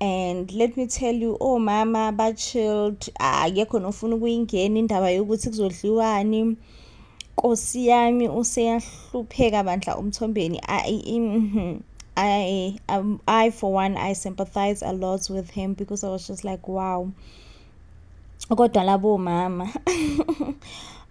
and let me tell you omama oh, ba-chilled akekho nofuna ukuyingena indaba yokuthi kuzodliwani nkosi yami useyahlupheka bandla umthombeni mhm. I, um, I for one i sympathize a lot with him because i was just like wow kodwa labo mama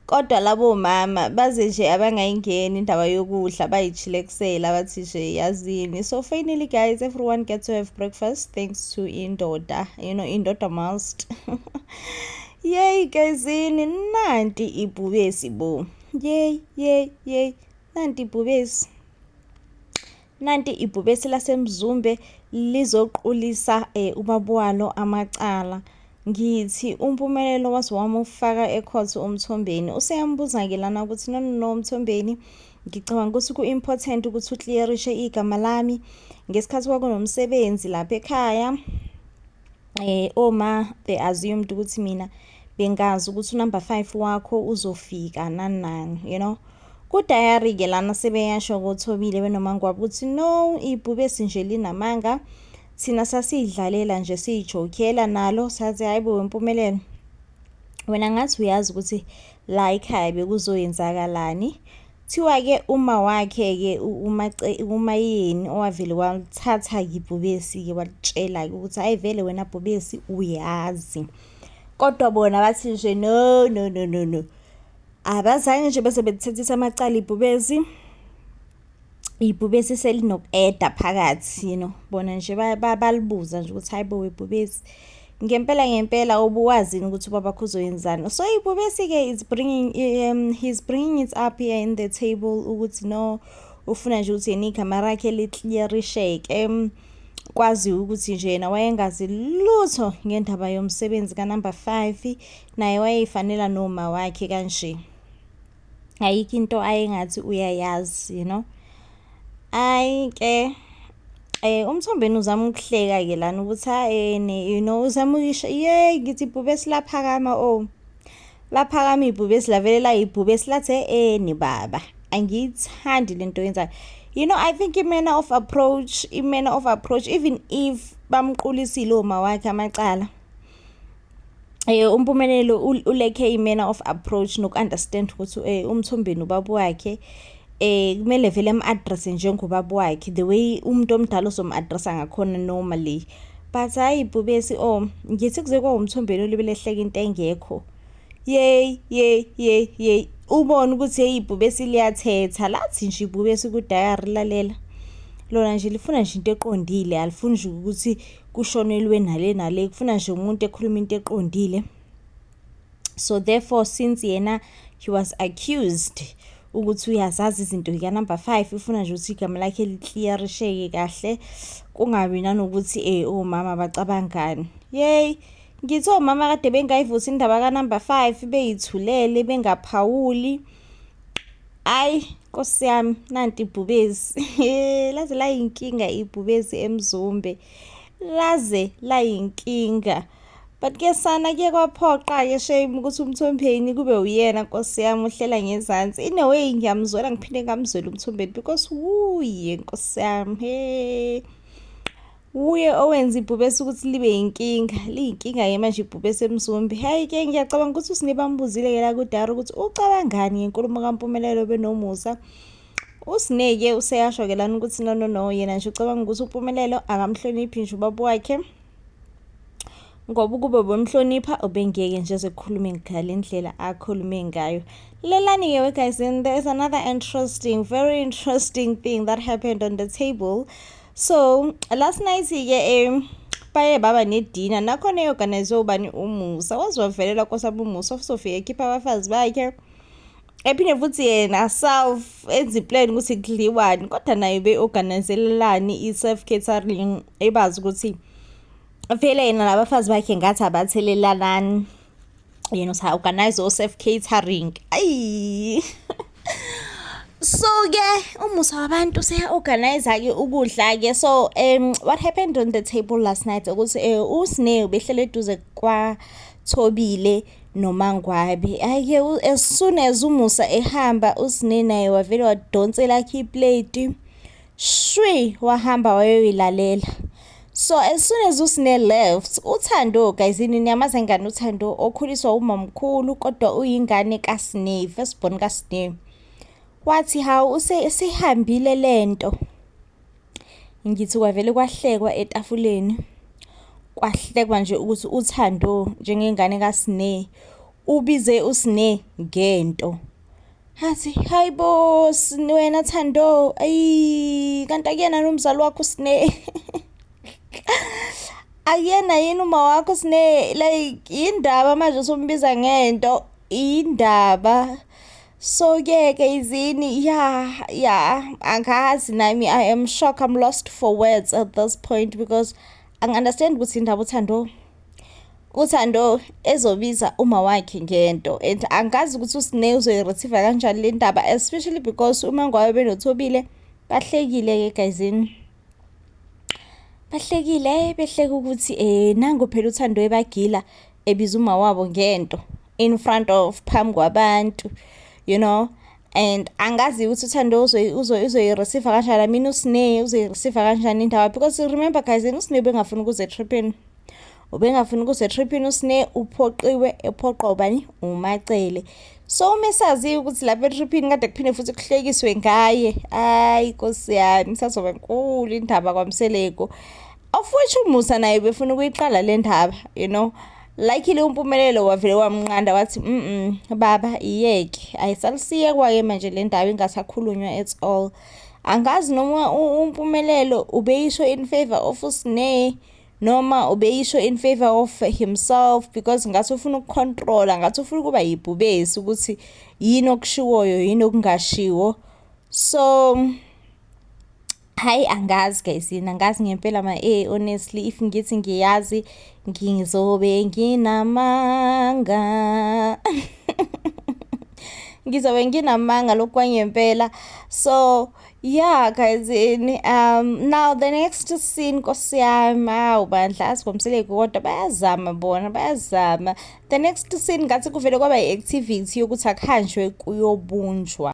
kodwa labo mama baze nje abangayingeni indaba yokudla bayijhilekusela bathi nje yazini so finally guys everyone get to have breakfast thanks to indoda you know indoda must yey gezini nanti ibhubesi bo yey yey yey nanti ibhubesi Nanti ibhubesi laseMzumbe lizoqulisa eh, ubabuwalo amacala. Ngithi umpumelelo waze wamufaka ecourt umthombeni. Useyambuza-ke lana ukuthi no no no umthombeni ngicabanga ukuthi ku-important ukuthi uclearishe igama lami ngesikhathi kwakunomsebenzi lapha ekhaya Eh oma they assumed ukuthi mina bengazi ukuthi unumber 5 wakho uzofika nani nani you know kudayari ke lana sebeyasho kothobile benomangwabo ukuthi no ibhube sinje linamanga thina sasidlalela nje siyijokela nalo sathi hayibo wempumelelo wena ngathi uyazi ukuthi la ekhaya bekuzoyenzakalani Kuthiwa ke uma wakhe ke umayeni owavele walithatha yibhubesi ke walitshela ke ukuthi hayi vele wena bhubesi uyazi kodwa bona bathi nje no no no no no abazange nje bese bekuthethisa amacala ibhubesi ibhubesi selinokueda phakathi you know bona nje balibuza nje ukuthi hayibo webhubesi Ngempela ngempela ubuwazini ukuthi ubaba kho uzoyenzani. So ibubesi-ke is bringing um, he's bringing it up here in the table ukuthi no ufuna nje ukuthi yena igama rakhe liklierisheke um, kwazi ukuthi nje yena wayengazi lutho ngendaba yomsebenzi kanumber 5 naye wayeyifanela noma wakhe kanje ayikho into ayengathi uyayazi you know ayi ke eh umthombeni uzama ukuhleka ke lana ukuthi ayene you know uzama ukuyisho yey ngithi ibhube silaphakama oh laphakama ibhube silavele la ibhube silathe eni baba angiyithandi lento yenzayo you know i think imena of approach imena of approach even if bamqulisile uma wakhe amacala Eh umpumelelo uleke imena of approach nokunderstand ukuthi eh umthombeni ubaba wakhe eh kumele vele am-address njengobaba wakhe the way umuntu omdala ozomu-addressa ngakhona normally but hayi bhubesi o oh, ngithi kuze kwawumthombeni olibele ehleka into engekho yey yey yey yey ubone ukuthi yeyi ibhubesi liyathetha lathi nje ibhubesi kudayari lalela lona nje lifuna nje into eqondile alifuni nje ukuthi kushonelwe nale nale kufuna nje umuntu ekhuluma into eqondile so therefore since yena he was accused ukuthi uyazazi izinto yikanumber five ifuna nje ukuthi igama lakhe likliyarisheke kahle kungabi nanokuthi um eh, omama oh, bacabangani yeyi ngithi omama oh, kade bengayivuthi indaba kanumber five beyithulele bengaphawuli Ayi Nkosi yami nanti ibhubezi laze layinkinga ibhubezi emzumbe laze layinkinga but ke sana kuye kwaphoqa-ke shame ukuthi umthombeni kube uyena nkosi yami uhlela ngezansi in a way ngiyamzwela ngiphinde ngamzwela umthombeni because wuye nkosi yami he Wuye owenza ibhubesi ukuthi libe yinkinga, liyinkinga-ke manje ibhubesi eMzumbi. Hhayi-ke ngiyacabanga ukuthi uSine bambuzile-ke la kudara ukuthi ucabangani ngenkulumo kaMpumelelo benomusa. USine-ke useyasho-ke lana ukuthi no no no yena nje ucabanga ukuthi uMpumelelo akamhloniphi nje ubaba wakhe ngoba ukube ubemhlonipha ubengeke nje ezokhuluma ngale ndlela akhulume ngayo lelani-ke we guys and there is another interesting very interesting thing that happened on the table so last night-ke um baye baba nedina nakhona eyoganize ubani umusa waziwavelela kosaba umusa ofuzofika ekhipha abafazi bakhe ephinde futhi yena self enza iplan ukuthi kudliwani kodwa naye be-organizelelani i-self catering ebazi ukuthi vele yena labafazi bakhe ngathi abathelelanani yena usa-organize o-safe catering ayi so-ke umusa wabantu seya-organize-ke ukudla-ke so um what happened on the table last night ukuthi um eh, usne ubehlele eduze kwathobile nomangwabe ayike as soon as umusa ehamba usne naye wavele wadonsela khe iplate Shwi wahamba wayoyilalela. So as soon as usine left, uThando guys ini niyamazi engane uThando okhuliswa umamkhulu kodwa uyingane kaSne, first born kaSne. Wathi hawu use sihambile lento. Ngithi kwavele kwahlekwa etafuleni. Kwahlekwa nje ukuthi uThando njengengane kaSne ubize uSne ngento. Hathi hayi bo wena Thando ayi kanti akuyena nomzali wakho sine akuyena yini uma wakho sine like indaba manje usumbiza ngento indaba so ke ke izini ya ya angazi nami i am shocked i'm lost for words at this point because angi understand ukuthi indaba uthando uThando ezobiza uma wakhe ngento and angikazi ukuthi uSne uzoyi-receive kanjani le ndaba especially because uma ngwayo benothobile bahlekile-ke gayizini bahlekile behleke ukuthi um nango phela uthando ebagila ebiza uma wabo ngento in front of phambi kwabantu you know and angazi ukuthi uthando uzoyireceive kanjani mina usine uzoyireceive kanjani indawo because remember guys yena usine ubengafuni ukuze etriphini ubengafuni ukuze etriphini usine uphoqiwe ephoqwa ubani umacele so uma esaziyo ukuthi lapha etriphini kade kuphinde futhi kuhlekiswe ngaye ayi nkosi yami sazoba nkulu indaba kwamseleko Ofwethu uMusa naye befuna ukuyiqala le ndaba you know likely umpumelelo wavele wamnqanda wathi mm baba iyeke ayisalusiyekwa-ke manje le ndaba ingasakhulunywa at all angazi noma umpumelelo ubeyisho in favor of usine noma ubeyisho in favor of himself because ngathi ufuna ukucontrola ngathi ufuna ukuba yibhubesi ukuthi yini okushiwoyo yini okungashiwo so Hayi angazi guys yini angazi ngempela ma eh honestly if ngithi ngiyazi ngizobe nginamanga ngizobe nginamanga lokwangempela so yeah guys in um now the next scene nkosi yami awu bandla asibomseleki kodwa bayazama bona bayazama the next scene ngathi kuvele kwaba i-activity yokuthi akuhanjwe kuyobunjwa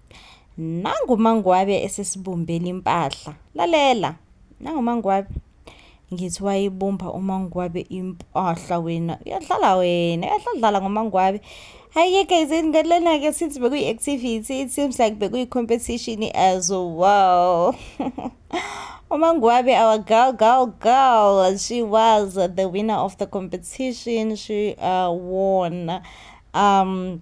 nangu mangwabe esesibumbela impahla lalela nangu mangwabe ngithi wayibumba umangwabe impahla wena uyadlala wena uyadlala ngomangwabe hayi-ke guys ngalena-ke since bekuyi-activity it seems like bekuyi-competition as well Omangwabe, our girl, girl, girl, she was the winner of the competition. She uh, won um,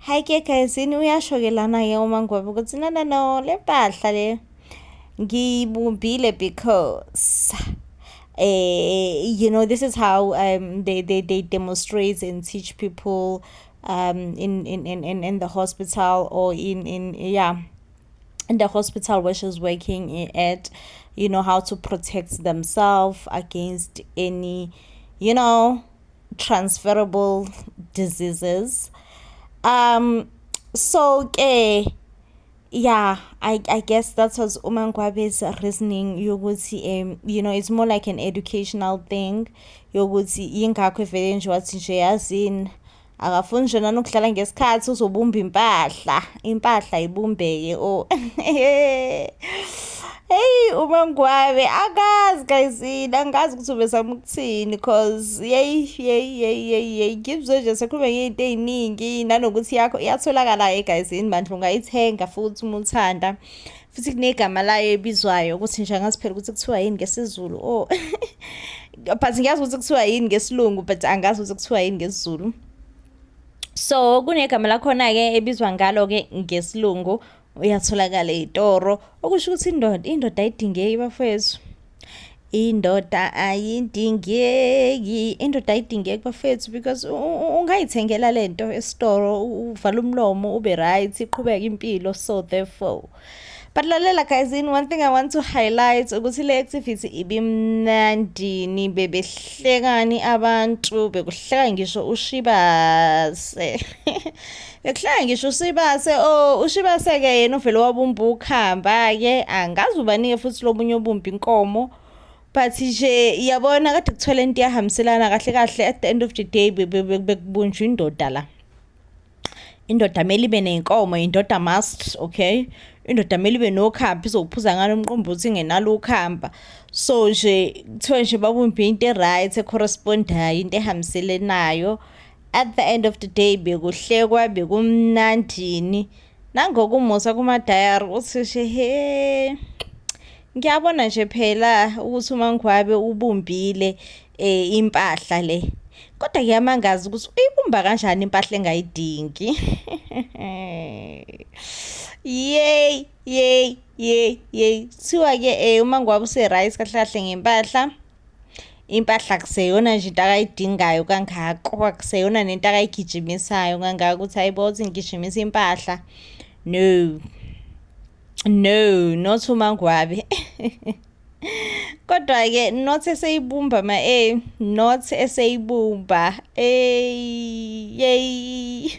Hi ke guys, yini uyasho ke lana ke uma ngobe ukuthi no no no le mpahla le ngiyibumbile because eh you know this is how um they they they demonstrate and teach people um in in in in, in the hospital or in in yeah in the hospital where she's working at you know how to protect themselves against any you know transferable diseases um so ke yeah i i guess that was umangwabe's reasoning yokuthi um you know it's more like an educational thing yokuthi ingakho vele nje wathi nje yazini akafuni nje nanokudlala ngesikhathi uzobumba impahla impahla ibumbeke o oh. heyi umangwabe akazi gayizini angazi ukuthi ubezama ukuthini cause yeyi yeyi yeyi yeyi yeyi ngibuzwe nje sekhulume ngeyinto eyiningi nanokuthi yakho iyatholakala-ke gayizini bandla ungayithenga futhi uma uthanda futhi kunegama layo ebizwayo ukuthi nje angazi phela ukuthi kuthiwa yini ngesizulu o oh. but ngiyazi ukuthi kuthiwa yini ngesilungu but angazi ukuthi kuthiwa yini ngesizulu so kunegama lakhona-ke ebizwa ngalo-ke ngesilungu uyatholakala itoro okusho ukuthi indoda indoda ayidingeki bafowethu indoda ayidingeki indoda ayidingeki bafethu because ungayithengela lento esitoro uvala umlomo ube right iqhubeka impilo so therefore but lalela guys in one thing i want to highlight ukuthi le activity ibimnandini bebehlekani abantu bekuhleka ngisho ushibase Ekuhlaya ngisho uSibase oh uShibase ke yena uvele wabumbukhamba ke angazi ubanike futhi lobunye obumbi inkomo but nje iyabona kade kuthola into yahambiselana kahle kahle at the end of the day bekubunjwa indoda la indoda mele ibe nenkomo indoda must okay indoda mele ibe nokhamba izokuphuza ngalo mqombothi ngenalo ukhamba so nje kuthiwa nje babumbe into e-right e-correspondayo into ehambiselenayo at the end of the day bekuhlekwa bekumnandini nangokumusa kumadayari uthishe he ngiyabona nje phela ukuthi umangwabe ubumbile um impahla le kodwa kuyamangaza ukuthi uyibumba kanjani impahla engayidingi yeyi yeyi yeyi yeyi kuthiwa-ke um uma ngiwaba use-right kahle kahle ngempahla impahla kuseyona nje into akayidingayo kangako kuseyona nento akayigijimisayo kangako ukuthi hayibo uthi ngigijimisa impahla no no not umangwabe kodwa-ke not eseyibumba ma e not eseyibumba eyi yeyi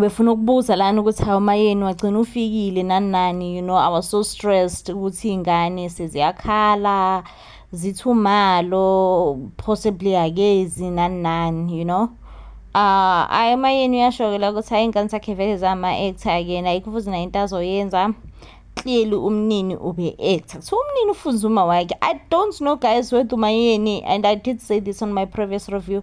befuna ukubuza lana ukuthi hawu mayeni wagcina ufikile nani nani you know i was so stressed ukuthi iy'ngane seziyakhala zithumalo possibly akezi nani nani you know uh ayi mayeni uyasho-ke la ukuthi hayi iy'ngane zakhe vele zama-actor yena ayikho futhi nayo into azoyenza clearly umnini ube actor so umnini ufunza uma wakhe i don't know guys whether umayeni and i did say this on my previous review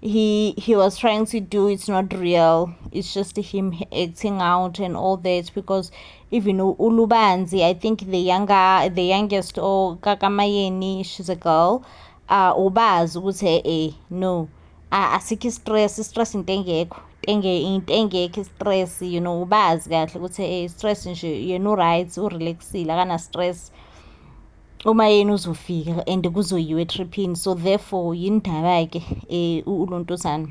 he he was trying to do it's not real it's just him acting out and all that because even ulubanzi i think the younger the youngest or kakamayeni she's a girl uh ubazi ukuthi eh, eh no asikho istress istress into engekho into engekho istress you know ubazi kahle ukuthi eh stress nje yena uright urelaxile akana stress uma yena uzofika and kuzoyiwa etriphini so therefore yini ndaba-ke um ulontosana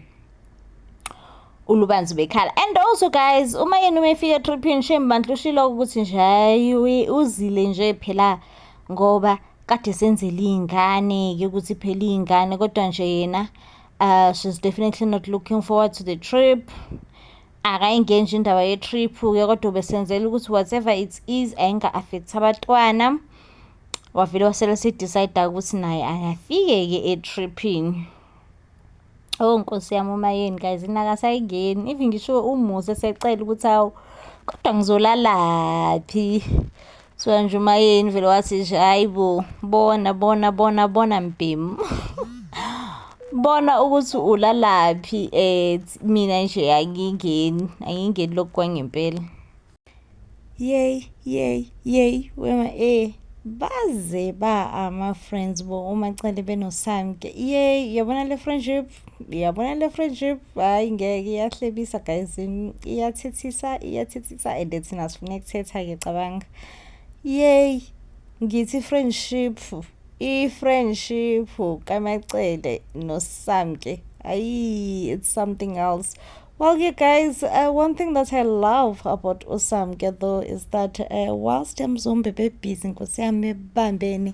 ulubanzi bekhala and also guys uma yena uma efika etriphini shame bandla ushilo ukuthi nje hayi uzile nje phela ngoba kade senzele iy'ngane-ke ukuthi phela iy'ngane kodwa nje yena uh she's definitely not looking forward to the trip akayingenji indaba ye-trip-ke kodwa ubesenzela ukuthi whatever it is ayinga-affect abatwana wavele wasele sidecide ukuthi naye angafike-ke e-tripping oh nkosi yami uma yeni guys inakasayingeni even ngisho umuzi esecela ukuthi awu kodwa ngizolalaphi Kuthiwa nje umayeni vele wathi nje hayi bo bona bona bona bona mbhemu bona ukuthi ulalaphi um mina nje angingeni angingeni lokhu kwangempela yey yey yey wema e baze ba ama-friends bo umacele benosamke yey yabona le friendship yabona le friendship hayi ngeke iyahlebisa guys iyathethisa iyathethisa and thina sifuna ukuthetha-ke cabanga yeyi ngithi friendship i-friendship kamacele nosamke ayi it's something else Well, you guys, uh, one thing that I love about Usamke though is that uh, whilst I'm zombie babies, Nkosi yami bambeni,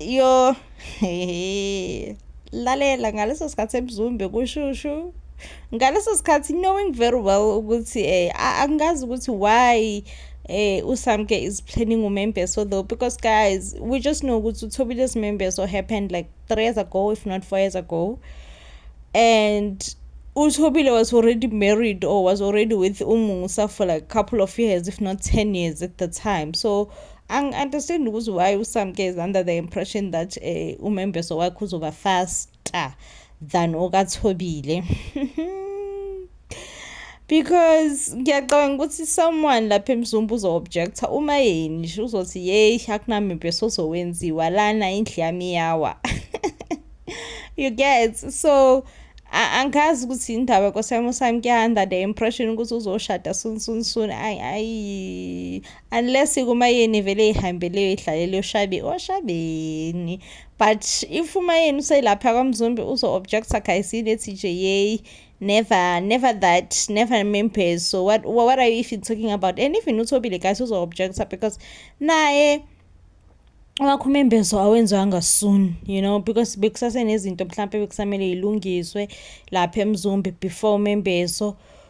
Yo, hehe. Lalela ngaleso sikhathi ebuzumbe kushushu. Ngaleso sikhathi knowing very well ukuthi eh a- angazi ukuthi why eh uSamke is planning umembeso though because guys we just know ukuthi uThobile simembeso happened like 3 years ago if not 4 years ago. and uThobile was already married or was already with uMusa for like a couple of years if not 10 years at the time so angi-understand ukuthi why usamke is under the impression that um eh, umembeso wakhe uzoba faster than okathobile because ngiyacabanga ukuthi someone lapha emzumba uzo-objecta uma yeni nje uzothi yeyi akunamembeso ozowenziwa lana indlu yami yawa you get so angazi ukuthi indaba kwasami usami kuyanda the impression ukuthi uzoshada soon soon soon ayi unless kumayeni vele ihambeleyo idlalele ushabi oshabeni but if umayeni uselapha kwamzumbi uzo-objecta khayisini ethi nje yeyi never never that never members so what, what are you even talking about and even uthobile guys uzo-objecta because naye wakho umembezo awenziwanga soon you know because bekusasenezinto mhlawumpe bekusamele yilungiswe lapha emzumbi before umembezo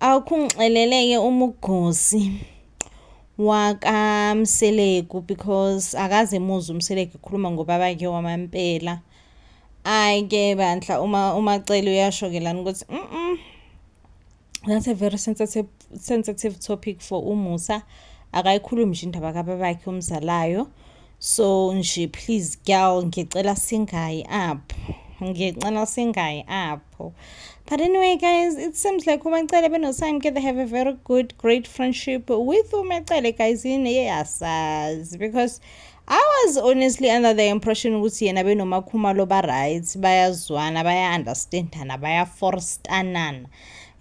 Awukhungixeleleke umugosi wakamseleku because akaze muzi umseleku ekhuluma ngobaba ke wamampela ayi ke bandla uma umacele uyasho ke lana ukuthi mm that's a very sensitive, sensitive topic for umusa akayikhulumi nje indaba kababakhe omzalayo so nje please girl ngicela singayi up ngicela singayi up people. But anyway, guys, it seems like uMacele benoSamke, they have a very good, great friendship with uMacele, guys, in yes, because I was honestly under the impression ukuthi yena benomakhumalo ba-right bayazwana baya-understandana bayaforstanana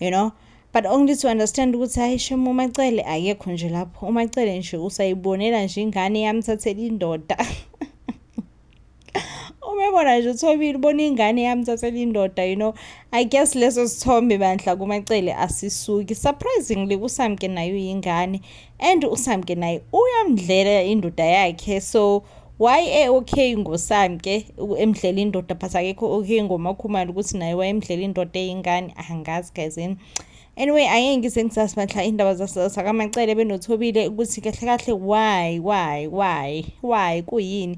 you know but only to understand ukuthi hayi shem umacele akekho nje lapho umacele nje usayibonela nje ingane yamthathela indoda umebona nje uthobile ubona ingane yami thathela indoda you know i guess leso sithombe bandla kumacele asisuki surprisingly usamke naye uyingane and usamke naye uyamdlela indoda yakhe so why e-okay ngosamke emdlela indoda but akekho okay ngomakhumalo ukuthi naye wayemdlela indoda eyingane angazi gazini anyway angeke ngise ngisazi bandla iy'ndaba zakamacele benothobile ukuthi kahle kahle why why why why kuyini